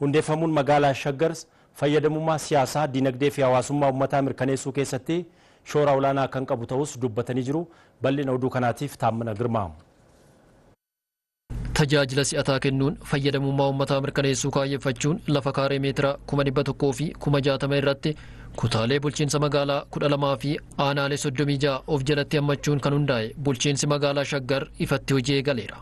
Hundeeffamuun Magaalaa Shaggars fayyadamummaa siyaasaa, dinagdee fi hawaasummaa ummataa mirkaneessuu keessatti shoora olaanaa kan qabu ta'uus dubbatanii jiru. Bal'ina oduu kanaatiif Taammana Girmaa. Tajaajila si'ataa kennuun fayyadamummaa ummataa mirkaneessuu kaayyeffachuun lafa kaaree meetira kuma 100 fi kuma 60 irratti kutaalee bulchiinsa magaalaa 12 fi aanaalee 36 of jalatti hammachuun kan hundaa'e bulchiinsi magaalaa Shaggar ifatti hojii eegaleera.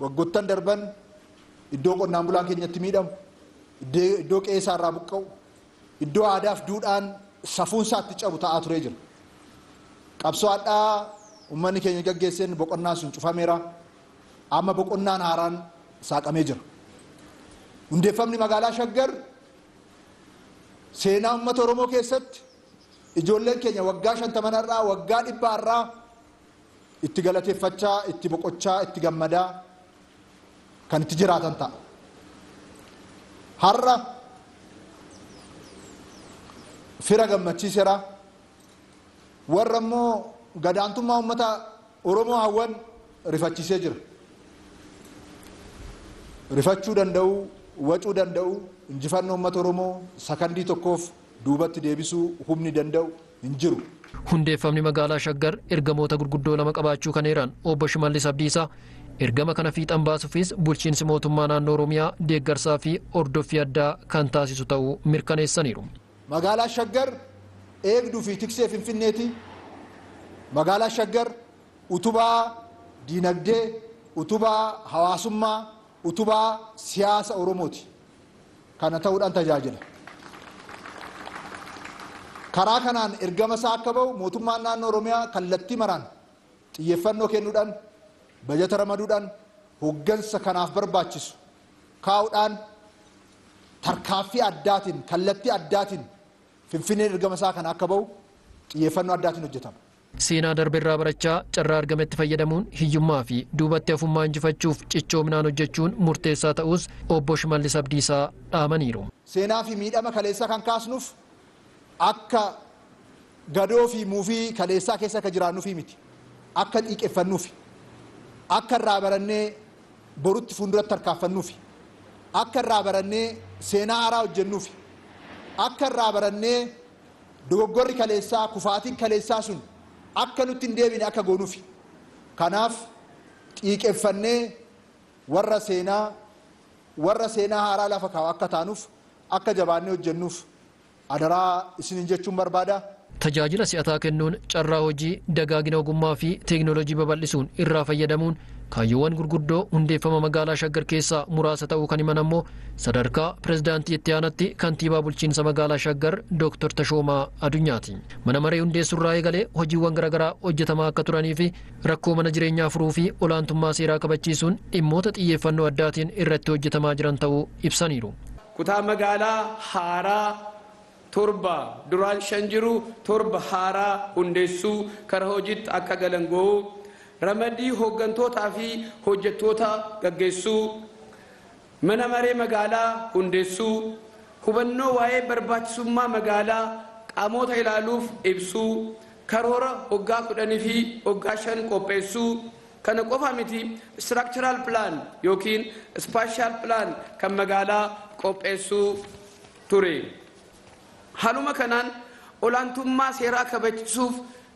Waggoottan darban iddoo qonnaan bulaan keenya itti miidhamu, iddoo qe'ee isaa irraa buqqa'u, iddoo aadaa fi duudhaan safuun isaa itti cabu ta'aa turee jira. Qabsoo hadhaa uummanni keenya gaggeesseen boqonnaan sun cufameera. Amma boqonnaan haaraan saaqamee jira. Hundeeffamni magaalaa Shaggar seenaa uummata Oromoo keessatti ijoolleen keenya waggaa shantaman har'aa, waggaa dhibbaa har'aa itti galateeffachaa, itti boqochaa, itti gammadaa kan itti jiraatan ta'a. Har'a fira gammachiisera. Warra immoo gadaantummaa uummata Oromoo hawwan rifachiisee jira. Rifachuu danda'u, wacuu danda'u, injifannoo uummata Oromoo sakandii tokkoof duubatti deebisuu humni danda'u hin jiru. Hundeeffamni magaalaa Shaggar ergamoota gurguddoo lama qabaachuu kan eeran Obbo Shimallis Abdiisaa, ergama kana fiixan baasuufis bulchiinsi mootummaa naannoo Oromiyaa deeggarsaa fi hordoffii addaa kan taasisu ta'uu mirkaneessaniiru. Magaalaa Shaggar eegduu fi tiksee Finfinneeti. Magaalaa Shaggar utubaa diinagdee, utubaa hawaasummaa, utubaa siyaasa Oromooti. kana ta'uudhaan tajaajila. Karaa kanaan ergama isaa akka ba'u mootummaan naannoo Oromiyaa kallattii maraan xiyyeeffannoo kennuudhaan, bajata ramaduudhaan, hooggansa kanaaf barbaachisu kaa'uudhaan tarkaaffii addaatiin, kallattii addaatiin Finfinneen ergama isaa kana akka ba'u xiyyeeffannoo addaatiin hojjetama. Seenaa darberraa barachaa carraa argametti fayyadamuun hiyyummaafi duubatti hafummaa injifachuuf cichoominaan hojjechuun murteessaa ta'uus Obbo Shimallis Abdiisaa dhaamaniiru. Seenaafi miidhama kaleessaa kan kaasnuf akka gadoofi muufii kaleessaa keessa akka jiraannufi miti. Akka xiiqeffannufi. Akka irraa barannee borutti fuunduratti tarkaanfannufi. Akka irraa barannee seenaa haaraa hojjennufi. Akka irraa barannee Dogoggorri kaleessaa, kufaatiin kaleessaa sun akka nutti hin deebine akka goonufi. Kanaaf xiiqeffannee warra seenaa, warra seenaa haaraa lafa kaa'u akka taanuuf, akka jabaannee hojjennuuf adaraa isiniin jechuun barbaada. Tajaajila si'ataa kennuun, carraa hojii, dagaagina ogummaa fi teeknooloojii babal'isuun irraa fayyadamuun kaayyoowwan gurguddoo hundeeffama Magaalaa Shaggar keessaa muraasa ta'uu kan himan ammoo Sadarkaa Pirezidaantii Itti Aanatti Kantiibaa Bulchiinsa Magaalaa Shaggar Dooktar Tashoomaa Adunyaati. Mana Maree hundeessuurraa eegalee hojiiwwan garagaraa hojjetamaa akka turaniifi rakkoo mana jireenyaa furuufi olaantummaa seeraa kabachiisuun dhimmoota xiyyeeffannoo addaatiin irratti hojjetamaa jiran ta'uu ibsaniiru. Kutaa magaalaa haaraa 7, duraan 5 jiru, 7 haaraa hundeessuu, kara hojiitti akka galan gouu, ramaddii hooggantootaa fi hojjettoota gaggeessuu, Mana Maree Magaalaa hundeessuu, hubannoo waa'ee barbaachisummaa magaalaa qaamoota ilaaluuf ibsuu, karoora waggaa 10 fi waggaa 5 qopheessuu, kana qofa miti structural plan ykn spatial plan kan magaalaa qopheessuu ture. Haaluma kanaan olaantummaa seeraa kabachisuuf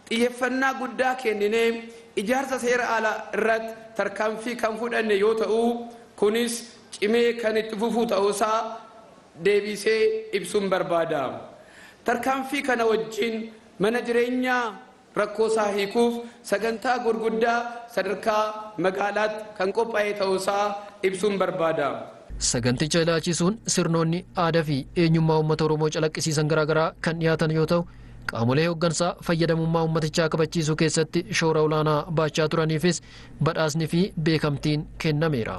Xiyyeffannaa guddaa kenninee ijaarsa seera alaa irratti tarkaanfii kan fudhanne yoo ta'u, kunis cimee kan itti fufuu ta'uu isaa deebiisee ibsuun barbaada. Tarkaanfii kana wajjin mana jireenyaa rakkoo isaa hiikuuf sagantaa gurguddaa sadarkaa magaalaatti kan qophaa'ee ta'uu isaa ibsuun barbaada. Saganticha ilaalchiisuun sirnoonni, aadaa fi eenyummaa uummata Oromoo calaqqisiisan garaagaraa kan dhiyaatan yoo ta'u, Qaamolee hooggansaa fayyadamummaa uummatichaa kabachiisuu keessatti shoora olaanaa baachaa turaniifis badhaasni fi beekamtiin kennameera.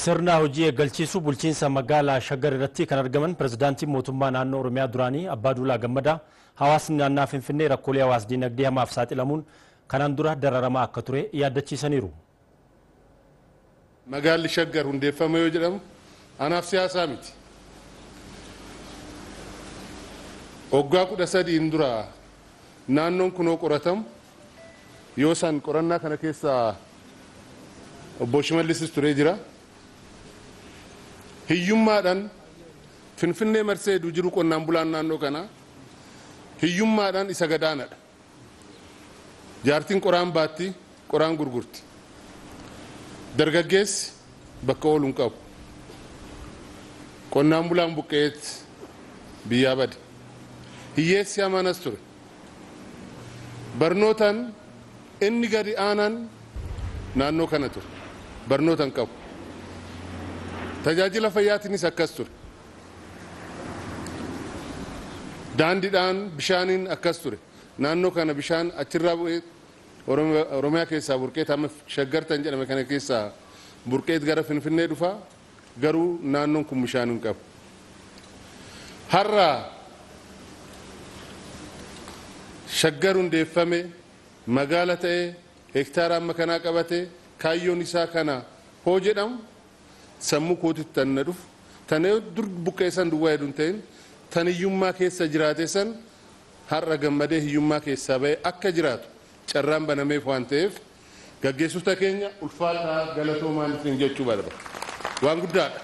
Sirna hojii eeggalchiisuu bulchiinsa magaalaa Shaggar irratti kan argaman pirezidaantiin mootummaa naannoo Oromiyaa duraanii Abbaa Duulaa Gammadaa hawaasni naannaa Finfinnee rakkoolee hawaas-dinagdee hamaaf saaxilamuun kanaan dura dararamaa akka ture yaaddachiisaniiru. Magaalli Shaggar hundeeffama yoo jedhamu anaaf siyaasaa miti. Waggaa 13n dura naannoon kunoo qoratamu yoo san qorannaa kana keessa obbo Shimallisis turee jira. Hiyyummaadhaan Finfinnee marsee jiru qonnaan bulaan naannoo kanaa hiyyummaadhaan isa gadaanadha. Jaartiin qoraan baatti, qoraan gurgurti. Dargaggeessi bakka oolu hin qabu. Qonnaan bulaan buqqa'eet biyyaa bade. Hiyyeessi hamaan as ture. Barnootaan inni gadi aanaan naannoo kana ture. Barnoota hin qabu. Tajaajila fayyaatiinis akkas ture. Daandiidhaan, bishaaniin akkas ture. Naannoo kana bishaan achirraa bu'ee Oromiyaa keessaa burqeet amma Shaggar tan jedhame kana keessaa burqeet gara Finfinnee dhufa. Garuu naannoon kun bishaan hin qabu. Har'a Shaggar hundeeffame, magaala ta'e, hektaara amma kanaa qabate, kaayyoon isaa kana hoo jedhamu Sammuu kootitti tan na dhufu, tana yoo dur buqqa'e san duwwaa hedu hin ta'in, tan hiyyummaa keessa jiraate san har'a gammadee hiyyummaa keessaa bahee akka jiraatu carraan banameef waan ta'eef gaggeessota keenya ulfaadhaa galatoomaan isiniin jechuu barbaada. Waan guddaadha.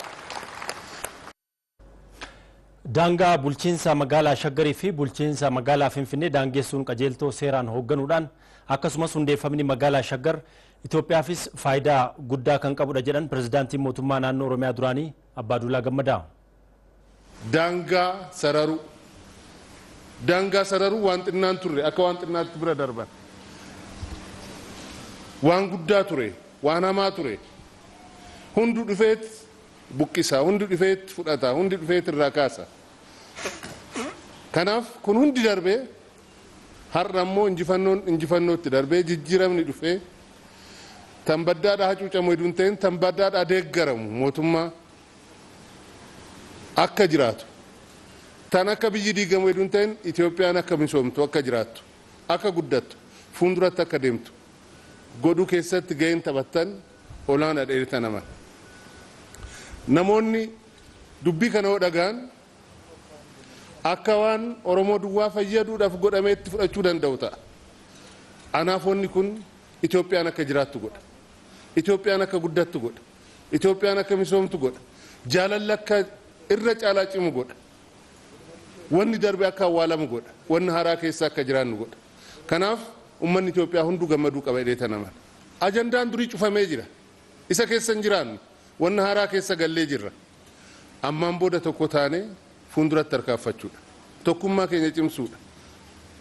Daangaa bulchiinsa magaalaa Shaggarii fi bulchiinsa magaalaa Finfinnee daangeessuun qajeeltoo seeraan hoogganuudhaan akkasumas hundeeffamni magaalaa Shaggar Itoophiyaafis faayidaa guddaa kan qabudha jedhan pirezidaantiin mootummaa naannoo Oromiyaa duraanii Abbaaduulaa Gammadaa. Daangaa sararuu. Daangaa sararuu waan xinnaan turre akka waan xinnaatti bira darban. Waan guddaa ture, waan hamaa ture. Hundu dhufeet buqqisa, hundi dhufeet fudhata, hundi dhufeet irraa kaasa. Kanaaf kun hundi darbee har'a immoo injifannoon injifannootti darbee jijjiiramni dhufee tan baddaadhaa hacuucamu heduu hin ta'in tan baddaadhaa deeggaramu mootummaa akka jiraatu tan akka biyyi diigamu heduu hin ta'in Itoophiyaan akka misoomtu akka jiraattu akka guddattu fuulduratti akka deemtu godhuu keessatti ga'een taphattan olaanadha irta naman. Namoonni dubbii kana yoo dhaga'an akka waan Oromoo duwwaa fayyaduudhaf godhameetti fudhachuu danda'u ta'a. Anaaf wanni kun Itoophiyaan akka jiraattu godha. Itoophiyaan akka guddattu godha. Itoophiyaan akka misoomtu godha. Jaalalli akka irra caalaa cimu godha. Wanni darbe akka awwaalamu godha. Wanni haaraa keessa akka jiraannu godha. Kanaaf ummanni Itoophiyaa hunduu gammaduu qaba jedheeta naman. Ajandaan durii cufamee jira. Isa keessa hin jiraannu. Wanna haaraa keessa gallee jirra. Ammaan booda tokko taanee fuunduratti tarkaanfachuudha. Tokkummaa keenya cimsuudha.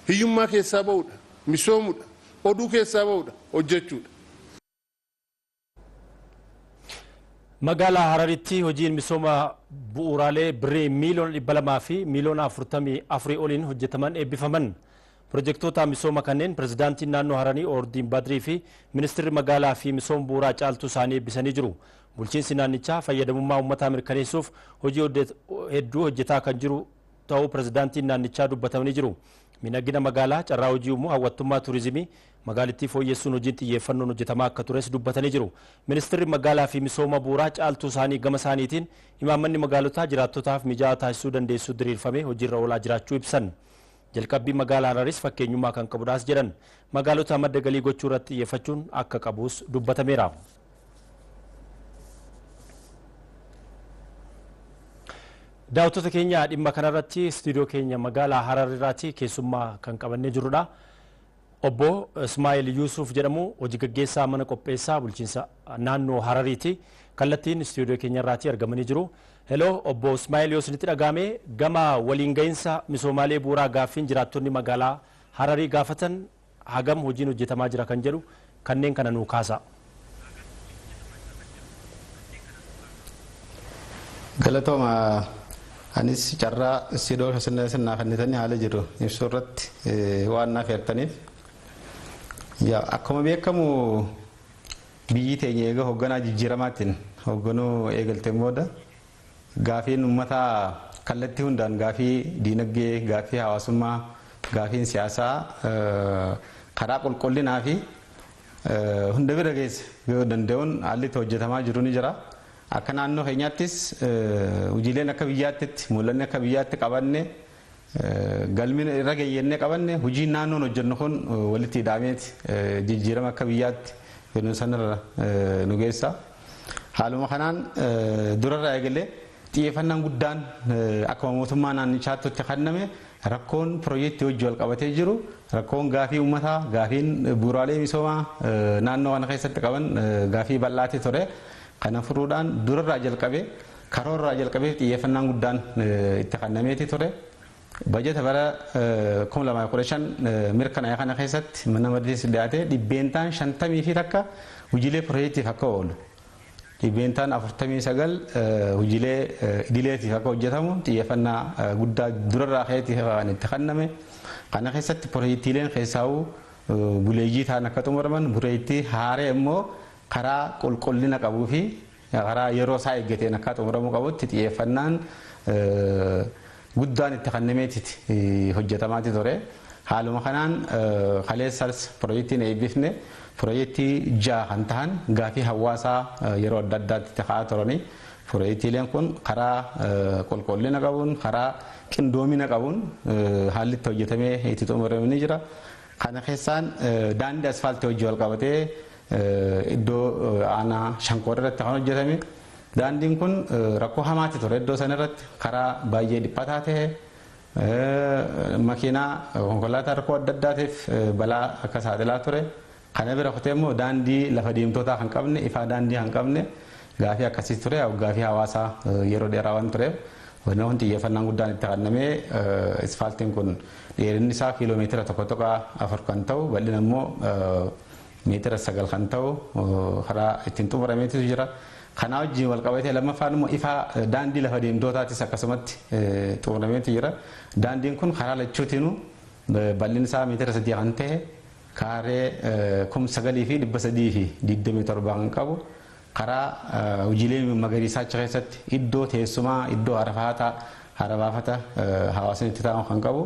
Hiyyummaa keessaa ba'uudha. Misoomudha. Oduu keessaa ba'uudha. Hojjechuudha. Magaalaa Hararitti hojiin misooma bu'uuraalee Birrii miiliyoona 200 fi miiliyoona 44 oliin hojjetaman eebbifaman. Pirojektoota misooma kanneen Pirezidaantiin Naannoo Haranii Oordiin Badrii fi Ministirri Magaalaa fi Misooma Bu'uuraa Caaltuu Saanii eebbisanii jiru. Bulchiinsi naannichaa fayyadamummaa uummataa mirkaneessuuf hojii hedduu hojjetaa kan jiru ta'uu Pirezidaantiin naannichaa dubbatamanii jiru. Miidhagina magaalaa, carraa hojii uumuu, hawwattummaa turizimii magaalittii fooyyessuun hojiin xiyyeeffannoon hojjetamaa akka tures dubbatanii jiru. Ministirri Magaalaa fi Misooma Bu'uuraa Caaltuu Saanii gama isaaniitiin imaammanni magaalotaa jiraattotaaf mijaa'aa taasisuu dandeessu diriirfamee hojiirra oolaa jiraachuu ibsan. Jalqabbiin Magaalaa Hararis fakkeenyummaa kan qabudhaas jedhan. Magaalota madda galii gochuu irratti xiyyeeffachuun akka qabuus dubbatameera. Daawwattoota keenya dhimma kanarratti istuudiyoo keenya magaalaa Harar irraati keessummaa kan qabannee jirrudha. Obbo Ismaa'el Yuusuuf jedhamu hojigaggeessaa mana qopheessaa bulchiinsa naannoo Harariiti. Kallattiin istuudiyoo keenyarraatii argamanii jiru. Heloo obbo Ismaa'el yoo isinitti dhaga'ame gama waliin gahinsa misoomaalee bu'uuraa gaaffiin jiraattonni magaalaa Hararii gaafatan hagam hojiin hojjetamaa jira kan jedhu Kanneen kana nuu kaasaa. Galatooma anis carraa istiidoo keessan naa kennitanii haala jiru ibsuu irratti waan naaf heertaniif. Akkuma beekamu biyyi teenya eega hogganaa jijjiiramaatiin hogganuu eegalteen booda Gaafiin ummataa kallattii hundaan gaafii diinaggee, gaaffii hawaasummaa, gaafiin siyaasaa karaa qulqullinaa fi hunda bira geesse yoo danda'uun haalli itti hojjetamaa jiru ni jira. Akka naannoo keenyaattis hojiileen akka biyyaattitti, mul'anni akka biyyaatti qabanne Galmi irra gahe jennee qabanne hojiin naannoon hojjennu kun walitti hidhaameeti jijjiirama akka biyyaatti fidnu sanarra nu geessa. Haaluma kanaan durarraa eegalee xiyyeeffannaan guddaan akkuma mootummaa naannichaatti itti kenname rakkoon pirojektii wajjin wal qabatee jiru rakkoon gaafii uummataa, gaafiin bu'uuraalee misoomaa naannoo kana keessatti qaban gaafii bal'aati ture. Kana furuudhaan durarraa jalqabee Karoorraa jalqabeef xiyyeeffannaan guddaan itti kannameeti ture. Bajata bara 2015 mirkanaa'e kana keessatti mana mariitiis dhiyaatee dhibbeentaan 50 fi takka hojiilee pirojeektiif akka oolu, dhibbeentaan 49 hojiilee idileetiif akka hojjetamu xiyyeeffannaa guddaa durarraa ka'eeti kan itti kanname. Kana keessatti pirojeektiileen keessaawuu buleeyyii ta'an akka xumuraman, pirojeektii haaree immoo karaa qulqullina qabuu fi Karaa yeroo isaa eeggateen akkaa xumuramuu qabutti xiyyeeffannaan guddaan itti kannameetiti hojjetamaati ture. Haaluma kanaan kaleessas pirojektiin eebbifne pirojektii ja'a kan tahan gaafii hawaasaa yeroo adda addaatti ka'aa turanii pirojektiileen kun karaa qulqullina qabuun karaa qindoomina qabuun haalli itti hojjetamee itti xumurame ni jira. Kana keessaan daandii asfaaltii wajjin walqabatee Iddoo aanaa Shankoor irratti kan hojjetame daandiin kun rakkoo hamaatti ture iddoo sana irratti karaa baay'ee dhiphataa ta'e makiinaa konkolaataa rakkoo adda addaatiif balaa akka saaxilaa ture kana bira kutee immoo daandii lafa deemtootaa kan qabne ifaa daandii kan qabne gaafii akkasii ture gaafii hawaasaa yeroo dheeraa waan tureef wanna kun xiyyeeffannaan guddaan itti kennamee isfaaltiin kun dheerinni isaa kiiloo meetira tokko tuqaa afur kan ta'u bal'ina immoo meetira 9 kan ta'u karaa ittiin xumurameetu jira. Kanaa wajjin walqabatee lammaffaan immoo ifaa daandii lafa deemtootaatis akkasumatti xumurameetu jira. Daandiin kun karaa lachuutinuu bal'inni isaa meetira 3 kan ta'e kaaree 9327 kan qabu karaa hojiilee magariisaa achi keessatti iddoo teessumaa, iddoo harafaataa, harabaafata hawaasni itti taa'u kan qabu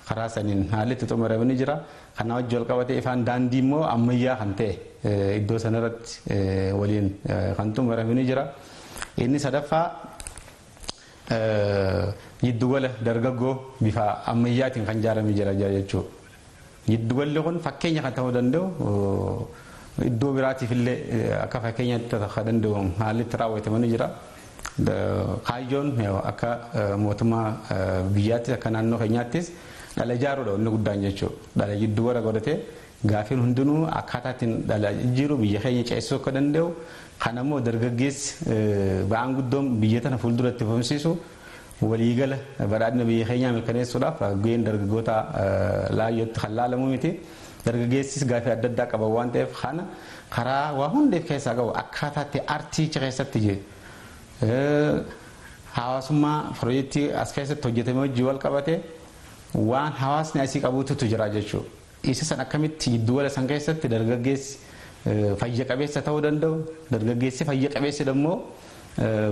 Karaa saniin haalli itti xumurame ni jira. Kanaa wajji wal qabatee ifaan daandii immoo ammayyaa kan ta'e iddoo sana irratti waliin kan xumurame ni jira. Inni sadaffaa jiddugala dargaggoo bifa ammayyaatiin kan ijaarame jira jechuudha. Jiddugalli kun fakkeenya kan ta'uu danda'u iddoo biraatiif illee akka fakkeenyaatti kan danda'u haalli itti raawwatame ni jira. Kaayyoon akka mootummaa biyyaattis akka naannoo keenyaattis dhala ijaaruudha inni guddaan jechuudha. Dhala jidduu bara godhatee gaafiin hundinuu akkaataa ittiin dhala jijjiiru biyya keenya ceessisuu akka danda'u kan ammoo dargaggeessi ba'aan guddoon biyya tana fuuldura itti fufsiisu Waliigala badhaadhina biyya keenyaa mirkaneessuudhaaf gaheen dargaggootaa laayyootti kan laalamu miti. Dargaggeessis gaaffii adda addaa qaban waan ta'eef kana karaa waa hunda if keessaa qabu akkaataa itti artiicha keessatti hawaasummaa pirojektii as keessatti hojjetame wajjin walqabatee waan hawaasni asii qabuututu jira jechuudha. Isa san akkamitti jiddugala san keessatti dargaggeessi fayya qabeessa ta'uu danda'u, dargaggeessi fayya qabeessi ammoo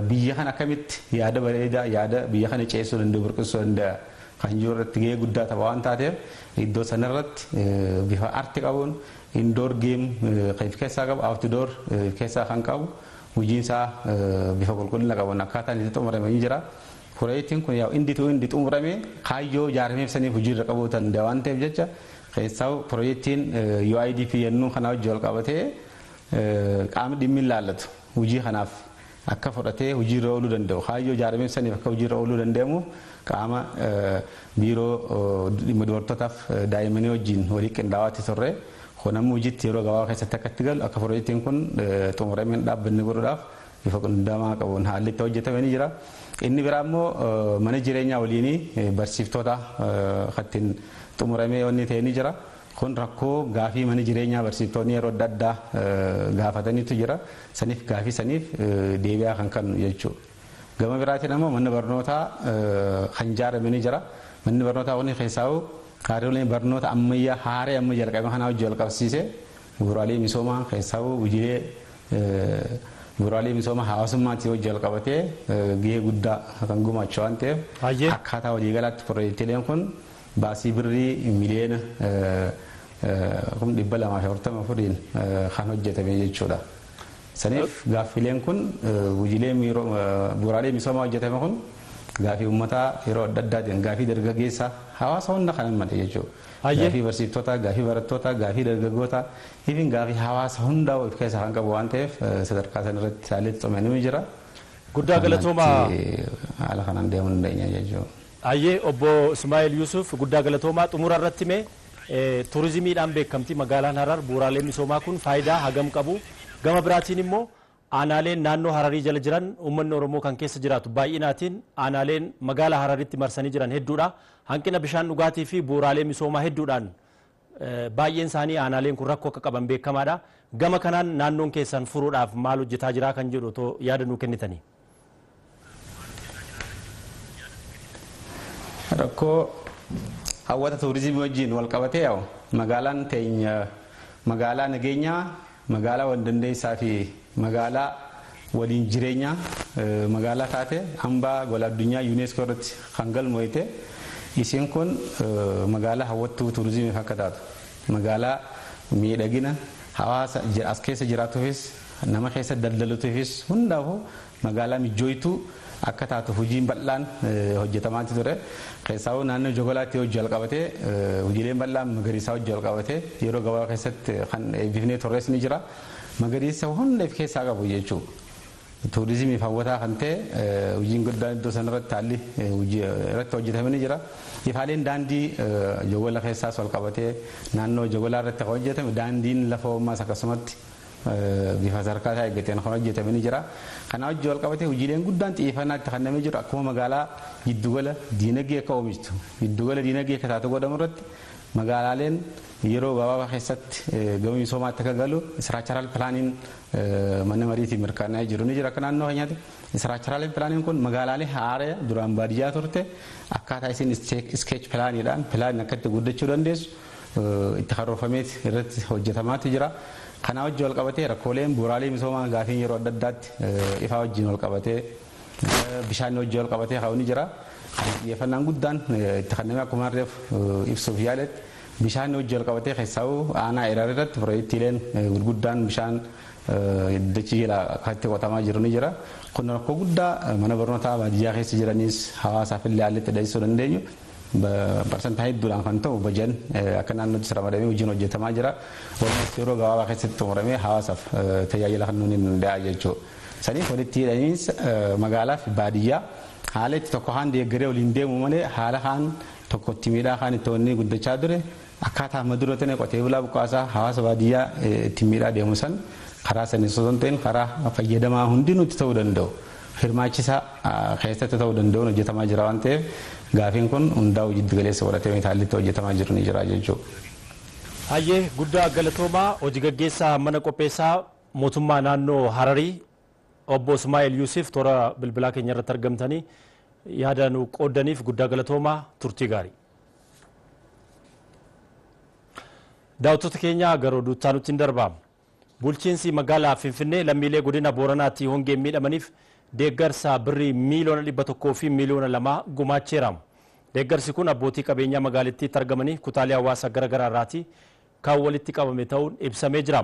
biyya kana akkamitti yaada bareedaa, yaada biyya kana ceessuu danda'u, burqisuu danda'a kan jiru irratti gahee guddaa tapha waan taateef iddoo san irratti bifa arti qabuun indoor geem kan if keessaa qabu, outdoor if keessaa kan qabu hojiin isaa bifa qulqullina qabuun akkaataan itti xumurame ni jira. Proyektiin kun yaa'u indi to indi xumuramee kaayyoo ijaarameef saniif hojiirra qabuu danda'a waan ta'eef jecha keessaa'u proyektiin UIDP yennuu kanaa wajji wal qabatee qaamni dhimmi ilaallatu hojii kanaaf akka fudhatee hojiirra ooluu danda'u kaayyoo ijaarameef saniif akka hojiirra ooluu danda'amuuf qaama biiroo dhimma dubartootaaf daa'immanii wajjin walii qindaa'aatti turre kun amma hojiitti yeroo gabaabaa keessatti akka itti galu akka proyektiin kun xumurameen dhaabbanni godhuudhaaf bifa qindamaa qabuun haalli itti hojjetame ni jira. Inni biraa immoo mana jireenyaa waliinii barsiiftoota kattiin xumuramee wanni ta'e ni jira. Kun rakkoo gaafii mana jireenyaa barsiiftoonni yeroo adda addaa gaafatanitu jira. Saniif gaafii saniif deebi'aa kan kennu jechuudha. Gama biraatiin ammoo manni barnootaa kan ijaarame ni jira. Manni barnootaa kun keessaa'u kaariyoleen barnoota ammayyaa haaree amma jalqabame kanaa wajjin wal qabsiisee Bu'uuraalee misoomaa keessaawuu gujilee bu'uuraalee misooma hawaasummaatti yoo jalqabatee gahee guddaa kan gumaacha waan ta'eef Hayyee. akkaataa waliigalaatti pirojektiileen kun baasii birrii miliyoona kum dhibba lamaa fi afurtama fudhiin kan hojjetame jechuudha. Saniif gaaffileen kun gujilee miiroo bu'uuraalee misoomaa hojjetame kun gaaffii uummataa yeroo adda addaatiin gaaffii dargaggeessaa hawaasa hunda kan hammate jechuudha. Hayyee. Gaafii barsiiftotaa, gaafii barattootaa, gaafii dargaggootaa, even gaafii hawaasa hundaa of keessaa kan qabu waan ta'eef sadarkaa san irratti saalee tumame ni jira. Guddaa galatooma. Ammatti haala kanaan deemuu dandeenya jechuudha. Hayyee obbo Ismaa'eel Yuusuf guddaa galatoomaa xumura irratti mee turizimiidhaan beekamti magaalaan Harar bu'uuraaleen misoomaa kun faayidaa hagam qabu gama biraatiin immoo Aanaaleen naannoo Hararii jala jiran uummanni Oromoo kan keessa jiraatu baay'inaatiin aanaaleen magaala Hararitti marsanii jiran hedduudha. Hanqina bishaan dhugaatii fi bu'uuraalee misoomaa hedduudhaan baay'een isaanii aanaaleen kun rakkoo akka qaban beekamaadha. Gama kanaan naannoon keessan furuudhaaf maal hojjetaa jiraa kan jedhu otoo yaada nuu kennitanii. Rakkoo hawwata tuurizimii wajjin wal qabatee yaa'u magaalaan teenya magaalaa nageenyaa, magaalaa wal dandeessaa fi magaalaa waliin jireenyaa magaalaa taate hambaa gola addunyaa Yuuneeskoo irratti kan galmooyte isiin kun magaalaa hawwattuu tuurizimiif akka taatu magaalaa miidhagina hawaasa as keessa jiraatuufis Nama keessa daldaluutiifis hundaafuu magaalaa mijjooytuu akka taatu hujiin bal'aan hojjetamaatti ture. Keessaawuu naannoo Jogolaatti hojii walqabatee hujiileen bal'aan magariisaa hojii walqabatee yeroo gabaabaa keessatti kan eebbifnee turres ni jira. Magariisa hunda if keessaa qabu jechuu tuurizimiif hawwataa kan ta'e hujiin guddaan iddoo sanarratti haalli hojii irratti hojjetame ni jira. Ifaaleen daandii Jogola keessaas walqabatee naannoo Jogolaa irratti kan hojjetame daandiin lafoo ammaas akkasumatti bifa sadarkaa isaa eeggateen kan hojjetame ni jira. Kana wajjin walqabatee hojiileen guddaan xiyyeeffannaa itti kennamee jiru akkuma magaalaa giddugala diinagdee akka oomishtu, giddugala diinagdee akka taatu godhamu irratti magaalaaleen yeroo gabaabaa keessatti gama misoomaatti akka galu istiraakcharaal pilaaniin mana mariitiin mirkanaa'ee jiru ni jira akka naannoo keenyaatti. Istiraakcharaaliin pilaaniin kun magaalaalee haaraya duraan baadiyyaa turte akkaataa isin iskeech pilaaniidhaan pilaaniin akka itti guddachuu dandeessu itti karoorfameet irratti hojjetamaati jira. Kanaa wajjin wal qabatee rakkooleen bu'uuraalee misoomaa gaafiin yeroo adda addaatti ifaa wajjin wal qabatee bishaanii wajjin wal qabatee ka'u ni jira. Xiyyeeffannaan guddaan itti kenname akkuma reef ibsuuf yaaletti bishaanii wajjin wal qabatee keessaa'uu aanaa Erar irratti piroojektiileen gurguddaan bishaan dachii jala akkatti qotamaa jiru ni jira. Kun rakkoo guddaa mana barnootaa baadiyyaa keessa jiranis hawaasaaf illee haalli itti dhageessisuu dandeenyu Parsantaa hedduudhaan kan ta'u bajan akka naannoottis ramadamee hojiin hojjetamaa jira. Walumatti yeroo gabaabaa keessatti xumuramee hawaasaaf tajaajila kennuu ni danda'a jechuudha. Saniif walitti hidhamiinsa magaalaa fi baadiyyaa haala itti tokko kaan deeggaree waliin deemu malee haala kaan tokko itti miidhaa kaan itti onnee guddachaa ture Akkaataa amma dura tana qotee bulaa buqqaasaa hawaasa baadiyyaa ittiin miidhaa deemu san karaa saniin osoo hin ta'in karaa fayyadamaa hundinuu itti ta'uu danda'u hirmaachisaa keessatti ta'uu danda'uun hojjetamaa jira waan ta'eef gaafiin kun hundaa'uu jiddu galeessa godhatee haalli itti hojjetamaa jiru ni jira jechuudha. Hayyee guddaa galatoomaa hoji gaggeessaa mana qopheessaa mootummaa naannoo Hararii obbo Ismaa'eel Yuusif toora bilbilaa keenya irratti argamtanii yaada nu qooddaniif guddaa galatoomaa turtii gaarii. Daawwattoota keenya gara oduu itti aanutti darba. Bulchiinsi magaalaa Finfinnee lammiilee godina Booranaatti hongeen miidhamaniif deeggarsa birrii miiliyoona dhibba tokkoo fi miiliyoona lamaa gumaacheera. Deeggarsi kun abbootii qabeenyaa magaalittiitti argamanii kutaalee hawaasa gara garaa irraati kan walitti qabame ta'uun ibsamee jira.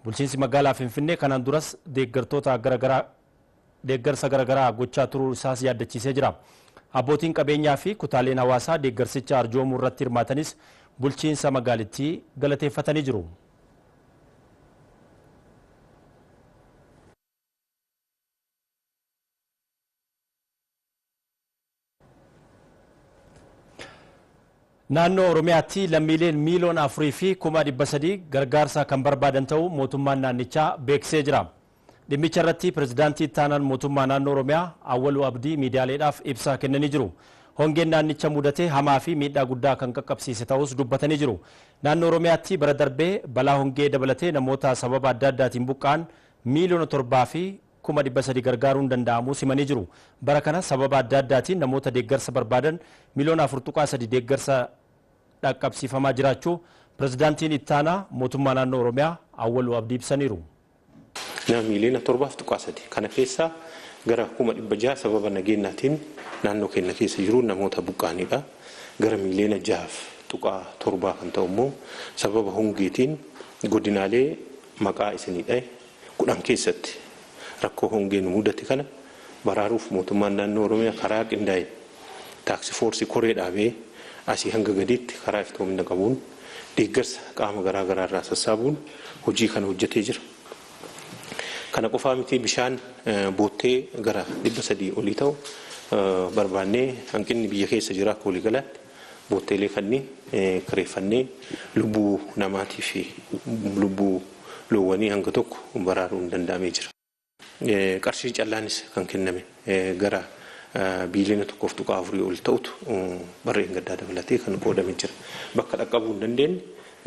Bulchiinsi magaalaa Finfinnee kanaan duras deeggartoota gara garaa deeggarsa garagaraa gochaa turuu isaas yaaddachiisee jira. Abbootiin qabeenyaa fi kutaaleen hawaasaa deeggarsicha arjoomuu irratti hirmaatanis bulchiinsa magaalittii galateeffatanii jiru. Naannoo Oromiyaatti lammiileen miiliyoona 4 fi kuma 300 gargaarsa kan barbaadan ta'uu mootummaan naannichaa beeksisee jira. Dhimmicha irratti pirezidaantii ittaanaan mootummaa naannoo Oromiyaa Awwaluu Abdii miidiyaaleedhaaf ibsa kennanii jiru. Hongeen naannicha mudate hamaa fi miidhaa guddaa kan qaqqabsiise ta'uus dubbatanii jiru. Naannoo Oromiyaatti bara darbee balaa hongee dabalatee namoota sababa adda addaatiin buqqa'an miiliyoona 7 fi kuma 300 gargaaruun danda'amuu simanii jiru. Bara kana sababa adda addaatiin namoota deeggarsa barbaadan miliyoona 4.3 deeggarsa dhaqqabsiifamaa jiraachuu Pirezidaantiin Ittaanaa Mootummaa Naannoo Oromiyaa Awwaluu Abdii ibsaniiru. Nama miiliyoona 7.3 kana keessaa gara kuma 600 sababa nageennaatiin naannoo keenya keessa jiruun namoota buqqa'aniidha. Gara miiliyoona 6.7 kan ta'u immoo sababa hongeetiin godinaalee maqaa isinii dhahe 10 keessatti rakkoo hongee nu mudate kana baraaruuf mootummaan naannoo Oromiyaa karaa qindaa'een taaksi foorsii koree dhaabee asii hanga gadiitti karaa iftoomina qabuun deeggarsa qaama garaa garaa irraa sassaabuun hojii kana hojjetee jira. Kana qofaa mitii bishaan boottee gara 300 olii ta'u barbaannee hanqinni biyya keessa jira akka waliigalaatti. bootteelee kanniin kireeffannee lubbuu namaatii fi lubbuu loowwanii hanga tokko baraaruun danda'amee jira. Qarshiin callaanis kan kenname gara biiliyoona 1.4 ol ta'utu bara dheengaddaa dabalatee kan qoodame jira. Bakka dhaqqabuu hin dandeenye,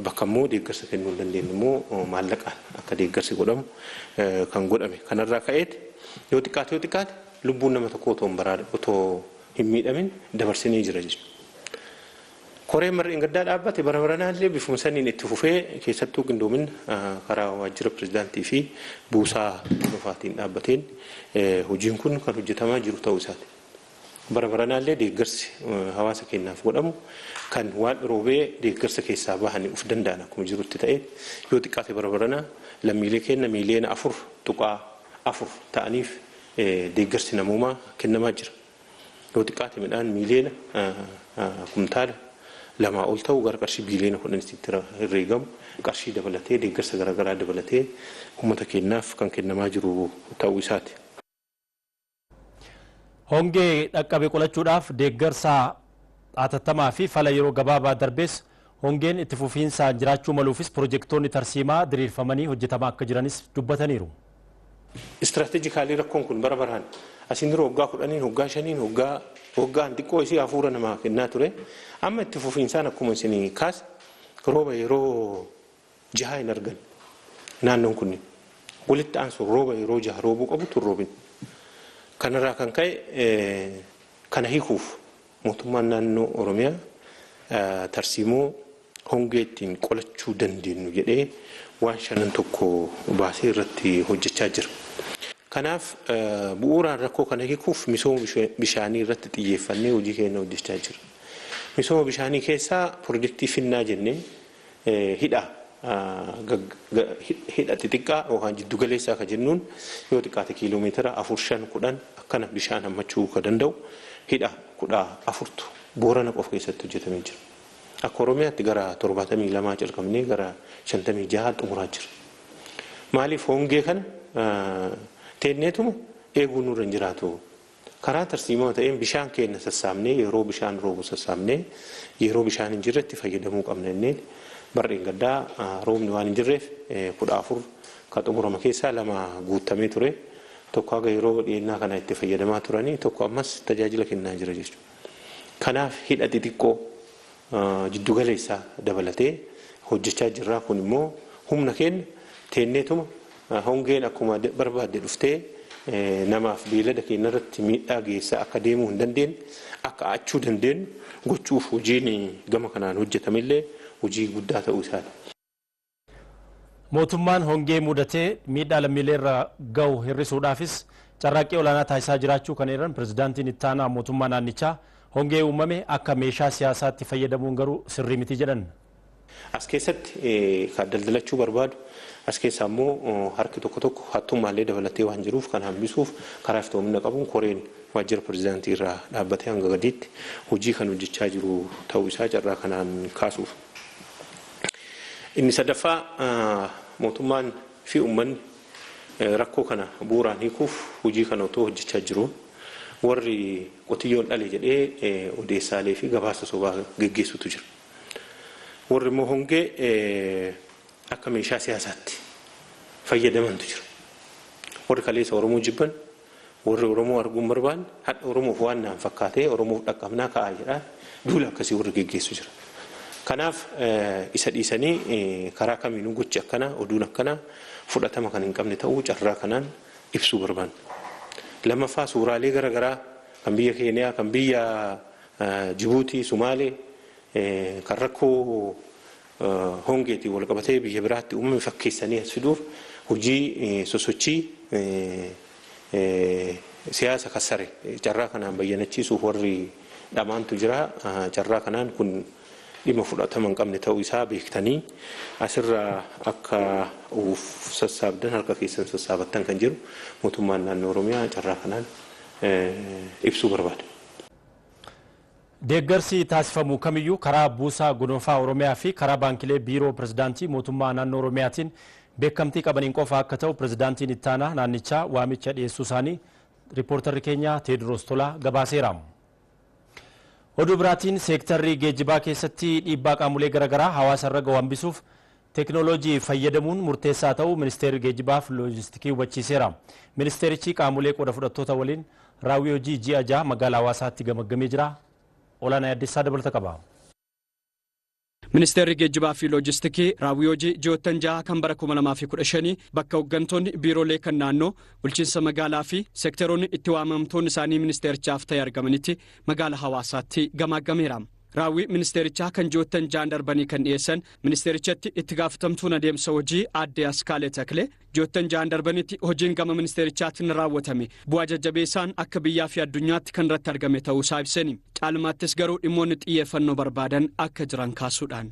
bakka immoo deeggarsa kennuu hin dandeenye immoo maallaqaan akka deeggarsi godhamu kan godhame. Kanarraa ka'eeti yoo xiqqaate yoo xiqqaate lubbuun nama tokkoo otoo hin baraarin otoo. hin miidhamin dabarsinee jira jechuudha. Koreen bara dheengaddaa dhaabbate bara baranaallee bifuma saniin itti fufee keessattuu qindoomin karaa waajjira pirezidaantii fi buusaa hordofaatiin dhaabbateen hojiin kun kan hojjetamaa jiru ta'uu isaati. Bara baranaallee deeggarsi hawaasa keenyaaf godhamu kan waan roobee deeggarsa keessaa bahanii of danda'an akkuma jirutti ta'ee yoo xiqqaate bara baranaa lammiilee keenya miiliyoona afur tuqaa afur ta'aniif deeggarsi namoomaa kennamaa jira. Yoo xiqqaate midhaan miiliyoona kumtaala lamaa ol ta'u gara qarshii biiliyoona kudhanitti itti herreegamu qarshii dabalatee deeggarsa garaagaraa dabalatee uummata keenyaaf kan kennamaa jiru ta'uu isaati. Hongee dhaqqabe qolachuudhaaf deeggarsa hatattamaa fi fala yeroo gabaabaa darbees hongeen itti fufiinsaan jiraachuu maluufis pirojektoonni tarsiimaa diriirfamanii hojjetamaa akka jiranis dubbataniiru. Strategically rakkoon kun bara baraan asiin dura waggaa kudhaniin, waggaa shaniin, waggaa waggaan xiqqoo isii hafuura namaa kennaa ture. Amma itti fufiinsaan akkuma isin kaase rooba yeroo jahaa hin argan naannoon kunniin. Walitti aansuun rooba yeroo jaha roobuu qabutu hin roobin. Kanarraa kan ka'e kana hiikuuf. Mootummaan Naannoo Oromiyaa tarsiimoo hongee ittiin qolachuu dandeennu jedhee waan shanan tokko baasee irratti hojjechaa jira. Kanaaf bu'uuraan rakkoo kana hikuuf misooma bishaanii irratti xiyyeeffannee hojii keenya hojjechaa jira. Misooma bishaanii keessaa pirojektii Finnaa jennee Hidha hidha xixiqqaa yookaan jiddu galeessaa kan jennuun yoo xiqqaate kiiloo meetira afur shan kudhan akkana bishaan hammachuu kan danda'u hidha kudha afurtu Boorana qofa keessatti hojjetamee jira. Akka Oromiyaatti gara torbaatamii lamaa calqabnee gara shantamii jahaa xumuraa jira. Maaliif hongee kana teenneetuma eeguu nurra hin jiraatu Karaa tarsiimawa ta'een bishaan keenna sassaabnee yeroo bishaan roobu sassaabnee yeroo bishaan hin jirretti fayyadamuu qabna jenneen bara dheengaddaa roobni waan hin jirreef 14 ka xumurama keessaa lama guuttamee ture tokko haga yeroo dhiyeennaa kanaa itti fayyadamaa turanii tokko ammas tajaajila kennaa jira jechuudha. Kanaaf hidha xixiqqoo, jiddu galeessaa dabalatee hojjechaa jirraa kun immoo humna keenna teenneetuma Hongeen akkuma barbaadde dhuftee namaaf beeylada keenya irratti miidhaa geessaa akka deemuu hin dandeenye akka aachuu dandeenyu gochuuf hojiin gama kanaan hojjetame illee hojii guddaa ta'uu isaati. Mootummaan hongee muudatee miidhaa lammiilee irra gahu hir'isuudhaafis carraaqqii olaanaa taasisaa jiraachuu kan eeran Pirezidaantiin Itti Aanaa Mootummaa Naannichaa, hongee uumame akka meeshaa siyaasaatti fayyadamuun garuu sirrii miti jedhan. As keessatti kan daldalachuu barbaadu as keessaa immoo harki tokko tokko hattummaallee dabalatee waan jiruuf kana hambisuuf karaa iftoomina qabuun koreen waajjira pirezidaantii irraa dhaabbatee hanga gadiitti hojii kan hojjechaa jiru ta'uu isaa carraa kanaan kaasuuf. Inni sadaffaa mootummaan fi uummanni rakkoo kana bu'uuraan hiikuuf hojii kana otoo hojjechaa jiruu warri qotiyyoon dhale jedhee odeessaalee fi gabaasa sobaa geggeessutu jira. Warri immoo hongee akka meeshaa siyaasaatti fayyadamantu jira. Warri kaleessa Oromoo jibban, warri Oromoo arguu hin barbaanne, hadha Oromoof waan naan fakkaatee Oromoof dhaqqabnaa ka'aa jedhaa duula akkasii warri geggeessu jira. Kanaaf isa dhiisanii karaa kamiinuu gochi akkanaa, oduun akkanaa fudhatama kan hin qabne ta'uu carraa kanaan ibsuu barbaanna. Lammaffaa suuraalee gara garaa kan biyya Keeniyaa, kan biyya Jibuutii, Sumaalee kan rakkoo hongeetiin walqabatee biyya biraatti uumame fakkeessanii as fiduuf hojii sosochii siyaasa kassare carraa kanaan bayyanachiisuuf warri dhamaantu jira. Carraa kanaan kun dhimma fudhatama hin qabne ta'uu isaa beektanii asirraa akka of sassaabdan harka keessan sassaabattan kan jedhu mootummaan naannoo Oromiyaa carraa kanaan ibsuu barbaada. Deeggarsi taasifamu kamiyyuu karaa Buusaa Gonofaa Oromiyaa fi karaa Baankilee Biiroo Pirezidaantii Mootummaa Naannoo Oromiyaatiin beekamtii qabaniin qofa akka ta'u Pirezidaantiin Ittaanaa naannichaa waamicha dhiyeessuu isaanii Riippoortarri keenya Teediroos Tolaa gabaaseera. Oduu biraatiin seektarri geejjibaa keessatti dhiibbaa qaamolee garaagaraa hawaasa irra gahu hambisuuf Teeknooloojii fayyadamuun murteessaa ta'uu Ministeerri Geejibaaf Loojistikii hubachiiseera. Ministeerichi qaamolee qooda fudhattoota waliin raawwii hojii ji'a 6 Magaalaa Hawaasaatti gamaggamee jira. Olaanaa Yaaddeessaa dabalata qaba. Ministeerri Geejjibaa fi Loojistikii raawwii hojii ji'oottan 6 kan bara 2015 bakka hoggantoonni biiroolee kan naannoo, bulchiinsa magaalaa fi seekteroonni itti waamamtoonni isaanii ministeerichaaf ta'e argamanitti Magaalaa Hawaasaatti gamaaggameera. Raawwii ministeerichaa kan ji'oottan ja'an darbanii kan dhiyeessan ministeerichatti itti gaafatamtuun adeemsa hojii aadde Askaalee Taklee ji'oottan ja'an darbanitti hojiin gama ministeerichaatiin raawwatame bu'aa jajjabeessaan akka biyyaa fi addunyaatti kan irratti argame ta'uusaa ibseni. Caalmaattis garuu dhimmoonni xiyyeeffannoo barbaadan akka jiran kaasuudhaan.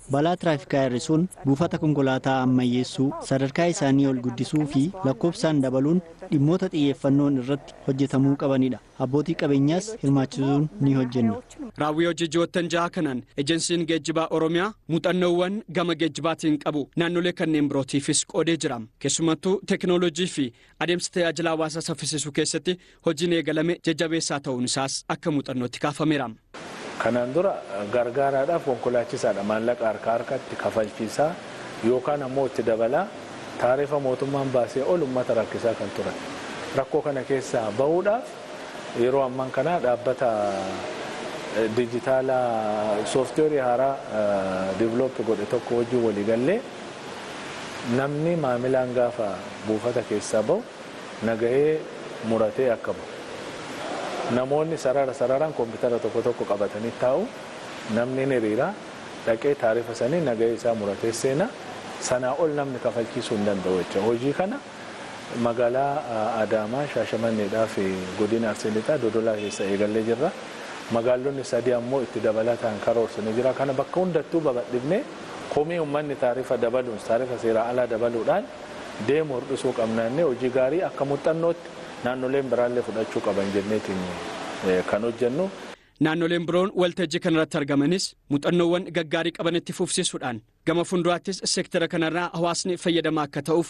Balaa tiraafikaa hir'isuun, buufata konkolaataa ammayyeessuu, sadarkaa isaanii ol guddisuu fi lakkoofsaan dabaluun dhimmoota xiyyeeffannoon irratti hojjetamuu qabanidha. Abbootii qabeenyaas hirmaachisuun ni hojjenna. Raawwii hojii ji'oottan jahaa kanaan Ejensiin Geejjibaa Oromiyaa muuxannoowwan gama geejjibaatiin qabu naannolee kanneen birootiifis qoodee jira. Keessumattuu teekinooloojii fi Adeemsa tajaajila hawaasaa saffisiisuu keessatti hojiin eegalame jajjabeessaa ta'uun isaas akka muuxannootti kaafameera. Kanaan dura gargaaraadhaaf konkolaachisaadha maallaqa harkaa harkatti kafalchiisaa yookaan ammoo itti dabalaa taarifa mootummaan baasee ol ummata rakkisaa kan turan. Rakkoo kana keessaa bahuudhaaf yeroo amman kanaa dhaabbata dijitaalaa sooftiweerii haaraa develop godhe tokko wajjin waliigallee, Namni maamilaan gaafa buufata keessaa bahu nagahee muratee akka bahu. Namoonni sarara sararaan kompitara tokko tokko qabatanii taa'u. Namni hin hiriira. Dhaqee taarifa sanii nagahee isaa muratee seena. Sanaa ol namni kafalchiisuu hin danda'u jecha. Hojii kana magaalaa Adaamaa, Shaashamanneedhaa fi Godina Arsii Lixaa Dodolaa keessaa eegallee jirra. Magaalonni sadii ammoo itti dabalataan karoorsinee jira. Kana bakka hundattuu babadhifnee. Komii ummanni taarifa dabaluun taarifa seeraa alaa dabaluudhaan deemu hirdhisuu qabna jennee hojii gaarii akka muxxannootti naannoleen biraallee fudhachuu qaban jenneetiin kan hojjennu. Naannoleen biroon waltajjii kanarratti argamanis muxannoowwan gaggaarii qaban itti fufsiisuudhaan gama funduraattis sektera kanarraa hawaasni fayyadamaa akka ta'uuf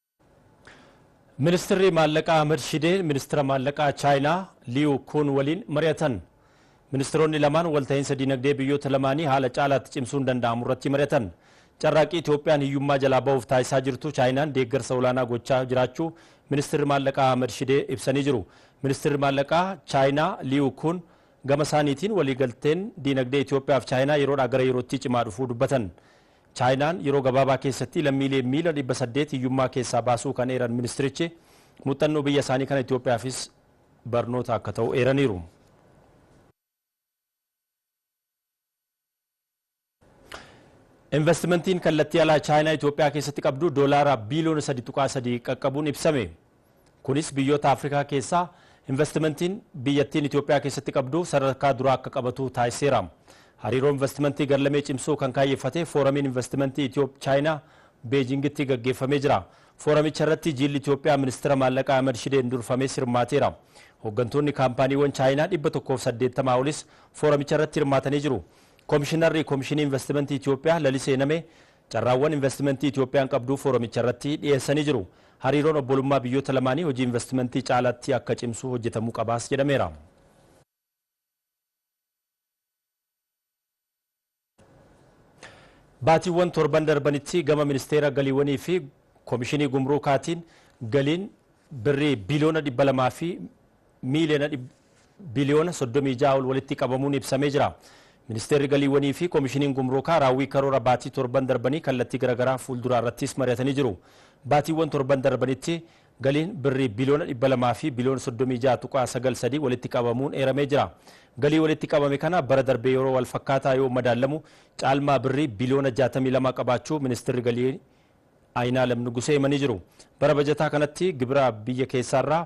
Ministirri Maallaqaa Ahmad Shidee Ministira Maallaqaa Chaayinaa Liyu Kuun waliin mari'atan. Ministiroonni lamaan walta'iinsa diinagdee biyyoota lamaanii haala caalaatti cimsuun danda'amu irratti mari'atan. Carraaqqii Itoophiyaan hiyyummaa jalaa bahuuf taasisaa jirtu Chaayinaan deeggarsa olaanaa gochaa jiraachuu Ministirri Maallaqaa Ahmad Shidee ibsanii jiru. Ministirri Maallaqaa Chaayinaa Liyu Kuun gama isaaniitiin waliigalteen diinagdee Itoophiyaa fi Chaayinaa yeroodhaa gara yerootti cimaa dhufuu dubbatan. Chaayinaan yeroo gabaabaa keessatti lammiilee miiliyoona 800 hiyyummaa keessaa baasuu kan eeran ministirichi, muxxannoo biyya isaanii kana Itoophiyaafis barnoota akka ta'u eeraniiru. Invastimantiin kallattii alaa Chaayinaa Itoophiyaa keessatti qabdu doolaara biiliyoona 3.3 qaqqabuun ibsame. Kunis biyyoota Afrikaa keessaa invastimantiin biyyattiin Itoophiyaa keessatti qabdu sadarkaa duraa akka qabatu taasiseera. Hariiroo invastimantii garlamee cimsuu kan kaayyeffate Fooramiin Invastimantii Itooph-Chaayinaa Beejingitti gaggeeffamee jira. Fooramicha irratti jiilli Itoophiyaa Ministira Maallaqaa Ahmad Shideen durfames hirmaateera. Hoggantoonni kaampaaniiwwan Chaayinaa 180 olis fooramicha irratti hirmaatanii jiru. Komishinarri Komishinii Invastimantii Itoophiyaa Lalisee Namee Carraawwan invastimantii Itiyoophiyaan qabdu fooromicharratti dhiyeessanii jiru. Hariiroon obbolummaa biyyoota lamaanii hojii invastimantii caalaatti akka cimsu hojjetamuu qabaas jedhameera. Baatiiwwan torban darbanitti gama Ministeera Galiiwwanii fi Komishinii Gumruukaatiin galiin Birrii biiliyoona 200 fi miiliyoona biliyoona 36 ol walitti qabamuun ibsamee jira. Ministeerri Galiiwwanii fi Komishiniin Gumruukaa raawwii karoora baatii torban darbanii kallattii garaagaraa fuulduraa irrattis mari'atanii jiru. Baatiiwwan torban darbanitti galiin birrii biliyoona 200 fi biliyoona 36.93 walitti qabamuun eeramee jira. Galii walitti qabame kana bara darbee yeroo wal fakkaataa yoo madaallamu caalmaa birrii biliyoona 62 qabaachuu Ministeerri Galii Ayinaalem Nugusee himanii jiru. Bara bajataa kanatti gibira biyya keessaarraa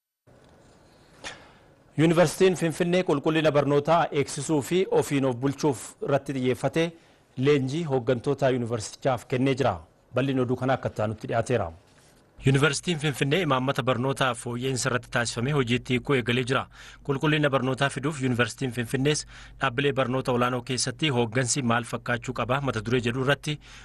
Yuunivarsiitiin Finfinnee qulqullina barnootaa eegsisuu fi ofiin of bulchuuf irratti xiyyeeffatee leenjii hooggantoota yuunivarsiitichaaf kennee jira. Bal'inni oduu kanaa akka itti aanutti dhiyaateera. Yuunivarsiitiin Finfinnee imaammata barnootaa fooyya'insa irratti taasifamee hojiitti hiikuu eegalee jira. Qulqullina barnootaa fiduuf Yuunivarsiitiin Finfinnees dhaabbilee barnoota olaanoo keessatti hooggansi maal fakkaachuu qaba mata duree jedhu irratti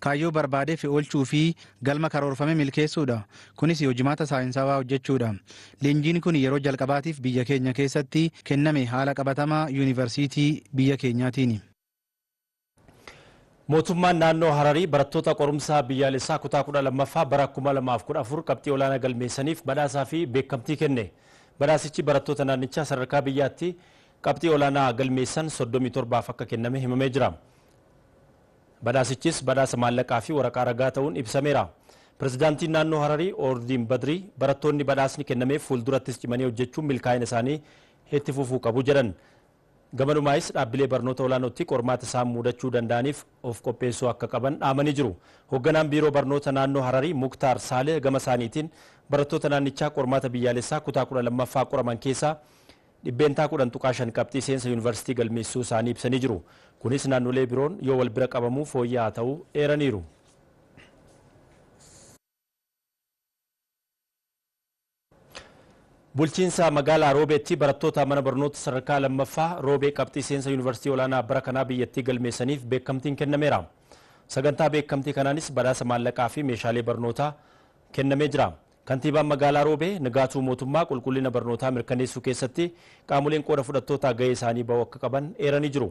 Kaayyoo barbaadeef oolchuu fi galma karoorfame milkeessuudha. Kunis hojimaata saayinsaawaa hojjechuudha. Leenjiin kun yeroo jalqabaatiif biyya keenya keessatti kenname haala qabatama Yuunivarsiitii biyya keenyaatiini. Mootummaan Naannoo Hararii barattoota qorumsa biyyaalessaa kutaa 12ffaa bara 2014 qabxii olaanaa galmeessaniif badhaasaa fi beekamtii kenne. Badhaasichi barattoota naannichaa sadarkaa biyyaatti qabxii olaanaa galmeessan 37f akka kenname himamee jira. Badhaasichis badhaasa maallaqaa fi waraqaa ragaa ta'uun ibsameera. Pirezidaantiin Naannoo Hararii Oordiin Badrii barattoonni badhaasni kennameef fuuldurattis cimanii hojjechuun milkaa'ina isaanii itti fufuu qabu jedhan. Gamanumaayis dhaabbilee barnoota olaanootti qormaata isaan muudachuu danda'aniif of qopheessuu akka qaban dhaamanii jiru. Hogganaan Biiroo Barnoota Naannoo Hararii Muktaar Saalih gama isaaniitiin barattoota naannichaa qormaata biyyaalessaa kutaa 12ffaa qoraman keessaa 10.5% qabxii seensa yuunivarsiitii galmeessisuu isaanii ibsanii jiru. Kunis naannolee biroon yoo walbira qabamu fooyya'aa ta'uu eeraniiru. Bulchiinsa magaalaa Roobeetti barattoota mana barnoota sadarkaa lammaffaa Roobee qabxii seensa yuunivarsiitii olaanaa bara kanaa biyyattii galmeessaniif beekamtiin kennameera. Sagantaa beekamtii kanaanis badhaasa maallaqaa fi meeshaalee barnootaa kennamee jira. Kantiibaan Magaalaa Roobee Nigaatuu Mootummaa qulqullina barnootaa mirkaneessuu keessatti qaamoleen qooda fudhattootaa gahee isaanii ba'uu akka qaban eeranii jiru.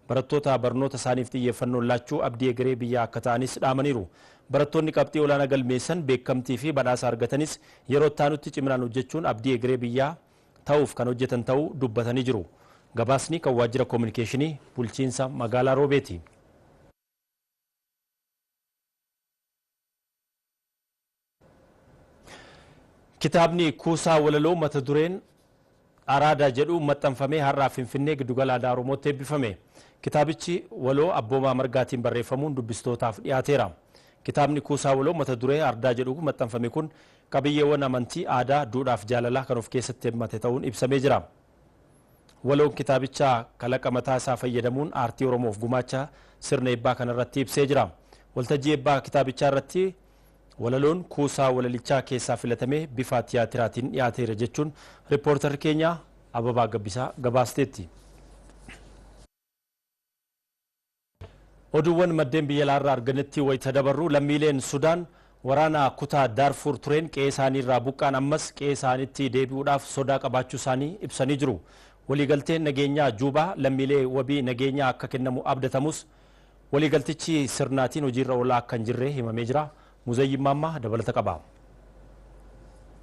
Barattoota barnoota isaaniif xiyyeeffannoon laachuu abdii egeree biyyaa akka ta'anis dhaamaniiru. Barattoonni qabxii olaanaa galmeessan beekamtii fi badhaasa argatanis yeroo itti aanutti ciminaan hojjechuun abdii egeree biyyaa ta'uuf kan hojjetan ta'uu dubbatanii jiru. Gabaasni kan waajjira koominikeeshinii bulchiinsa magaalaa Roobeeti. Kitaabni kuusaa walaloo mata dureen Araada jedhu maxxanfamee har'aa Finfinnee Giddugala Aadaa Oromootti eebbifame. Kitaabichi waloo Abboomaa Margaatiin barreeffamuun dubbistootaaf dhiyaateera. Kitaabni kuusaa waloo mata duree Ardaa jedhu maxxanfame kun qabiyyeewwan amantii, aadaa, duudhaaf jaalalaa kan of keessatti hammate ta'uun ibsamee jira. Waloon kitaabichaa kalaqa mataa isaa fayyadamuun aartii Oromoof gumaacha sirna eebbaa kanarratti ibsee jira. Waltajjii eebbaa kitaabichaa irratti Walaloon kuusaa walalichaa keessaa filatamee bifaa tiyaatiraatiin dhiyaateera jechuun rippoortarri keenya Ababaa Gabbisaa gabaasteetti. Oduuwwan maddeen biyya alaarraa argannetti wayita dabarru lammiileen Sudaan waraana kutaa Daarfuur tureen qe'ee isaaniirraa buqqaan ammas qe'ee isaaniitti deebi'uudhaaf sodaa qabaachuu isaanii ibsanii jiru. Waliigalteen nageenyaa Juubaa lammiilee wabii nageenyaa akka kennamu abdatamus Waliigaltichi sirnaatiin hojiirra oolaa akka hin jirre himamee jira. Muzayyin Maammaa dabalata qaba.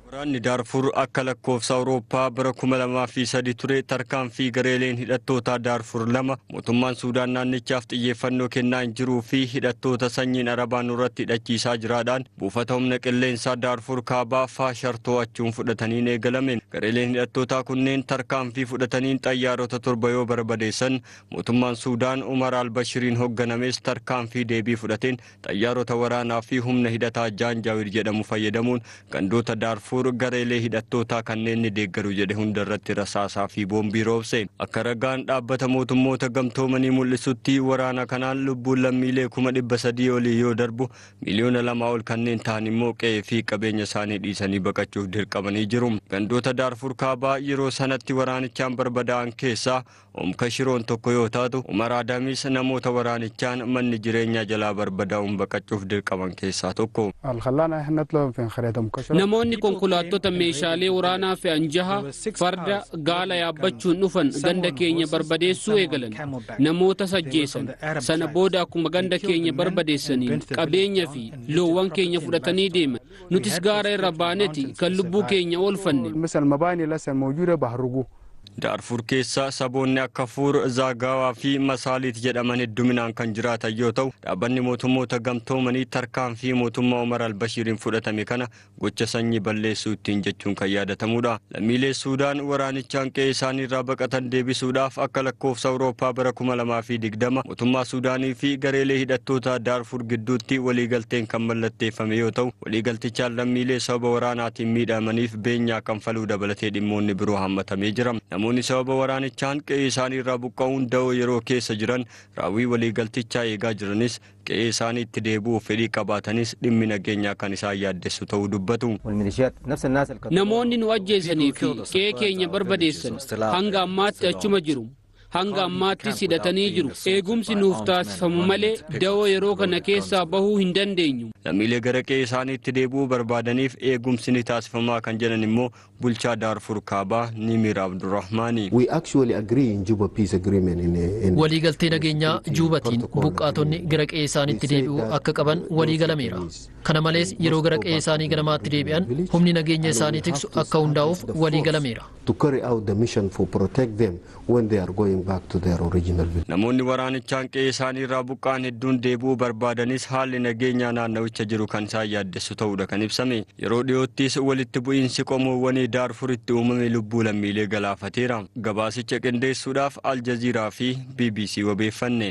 Waraanni Daarfuur akka lakkoofsa Awurooppaa bara 2003 ture tarkaanfii gareeleen hidhattootaa Daarfuur lama mootummaan Suudaan naannichaaf xiyyeeffannoo kennaa hin jiruu fi hidhattoota sanyiin Arabaa nurratti hidhachiisaa jiraadhaan buufata humna qilleensaa Daarfuur Kaabaa Faashar to'achuun fudhataniin eegalame. Gareeleen hidhattootaa kunneen tarkaanfii fudhataniin xayyaarota torba yoo barbadeessan Mootummaan Suudaan Umar al-Bashiriin hogganames tarkaanfii deebii fudhateen xayyaarota waraanaa fi humna hidhataa Jaanjaawir jedhamu fayyadamuun gandoota Daarfuur gareelee hidhattootaa kanneen ni deeggaru jedhe hunda irratti rasaasaa fi boombii roobse. Akka ragaan Dhaabbata Mootummoota Gamtoomanii mul'isutti waraana kanaan lubbuun lammiilee kuma dhibba sadii olii yoo darbu, miliyoona lamaa ol kanneen tahan immoo qe'ee fi qabeenya isaanii dhiisanii baqachuuf dirqamanii jiru. Gandoota Daarfuur Kaabaa yeroo sanatti waraanichaan barbadaa'an keessaa Umm Kashiroon tokko yoo taatu, Umar Aadamis namoota waraanichaan manni jireenyaa jalaa barbadaa'uun baqachuuf dirqaman keessaa tokko. Namoonni konkolaattota meeshaalee waraanaa fe'an jaha farda, gaala yaabbachuun dhufan ganda keenya barbadeessuu eegalan. Namootas ajjeesan. Sana booda akkuma ganda keenya barbadeessaniin qabeenya fi loowwan keenya fudhatanii deeman. Nutis gaara irra baaneti kan lubbuu keenya oolfanne. Daarfuur keessa saboonni akka Fuur, Zaagaawaa fi Masaaliit jedhaman hedduminaan kan jiraatan yoo ta'u, Dhaabbanni Mootummoota Gamtoomanii tarkaanfii mootummaa Omar al-Bashiiriin fudhatame kana gocha sanyii balleessuu ittiin jechuun kan yaadatamuudha. Lammiilee Suudaan waraanichaan qe'ee isaaniirraa baqatan deebisuudhaaf akka lakkoofsa Awurooppaa bara 2020 mootummaa Suudaanii fi gareelee hidhattootaa Daarfuur gidduutti waliigalteen kan mallatteeffame yoo ta'u, waliigaltichaan lammiilee sababa waraanaatiin miidhamaniif beenyaa kanfaluu dabalatee dhimmoonni biroo hammatamee jira. Namoonni sababa waraanichaan qe'ee isaanii irraa buqqa'uun da'oo yeroo keessa jiran raawwii waliigaltichaa eegaa jiranis qe'ee isaaniitti deebi'uuf fedhii qabaatanis dhimmi nageenyaa kan isaan yaaddessu ta'uu dubbatu. Namoonni nu ajjeesanii fi qe'ee keenya barbadeessan hanga ammaatti achuma jiru. Hanga ammaattis hidhatanii jiru. Eegumsi nuuf taasifamu malee dawoo yeroo kana keessaa bahuu hin dandeenyu. Lammiilee gara qe'ee isaaniitti deebi'uu barbaadaniif eegumsi ni taasifamaa kan jedhan immoo bulchaa Daarfur Kaabaa Niimiir Abdurrahmaani. We actually agree in Juba Peace Agreement in, in Waliigaltee nageenyaa Juubatiin buqqaatonni gara qe'ee isaaniitti deebi'uu akka qaban walii galameera. Kana malees yeroo gara qe'ee isaanii ganamaatti deebi'an humni nageenya isaanii tiksu akka hundaa'uuf walii galameera. to carry out the mission for protect them when they are going back to their original village. Namoonni waraanichaan qe'ee isaanii irraa buqqa'an hedduun deebi'uu barbaadanis haalli nageenyaa naannawicha jiru kan isaan yaaddessu ta'uudha kan ibsame. Yeroo dhiyoottis walitti bu'iinsi qomoowwanii Daarfuritti uumame lubbuu lammiilee galaafateera. Gabaasicha qindeessuudhaaf Aljaziiraa fi bbc wabeeffanne.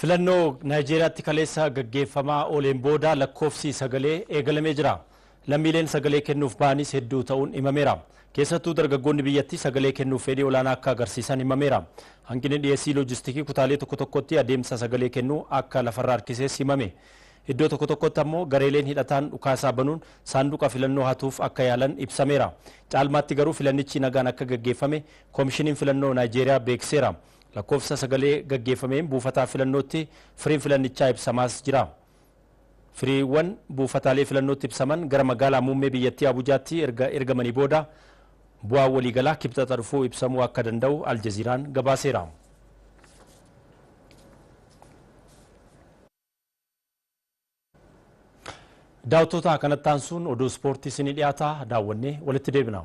Filannoo Naayijeeriyaatti kaleessa gaggeeffamaa ooleen booda lakkoofsi sagalee eegalamee jira. Lammiileen sagalee kennuuf ba'anis hedduu ta'uun himameera. Keessattuu dargaggoonni biyyattii sagalee kennuuf fedhii olaanaa akka agarsiisan himameera. Hanqinni dhiyeessii loojistikii kutaalee tokko tokkotti adeemsa sagalee kennuu akka lafarra harkisees himame. Iddoo tokko tokkotti ammoo gareeleen hidhataan dhukaasaa banuun saanduqa filannoo hatuuf akka yaalan ibsameera. Caalmaatti garuu filannichi nagaan akka gaggeeffame Komishiniin Filannoo Naayijeeriyaa beeksiseera. Lakkoofsa sagalee gaggeeffameen buufataa filannootti firiin filannichaa ibsamaas jira. Firiiwwan buufataalee filannootti ibsaman gara magaalaa muummee biyyattii Abujaatti erga ergamanii booda bu'aan waliigalaa Kibxata dhufuu ibsamuu akka danda'u Aljaziiraan gabaaseera. Daawwattoota kanatti aansuun oduu ispoortii isinii dhiyaata daawwannee walitti deebina.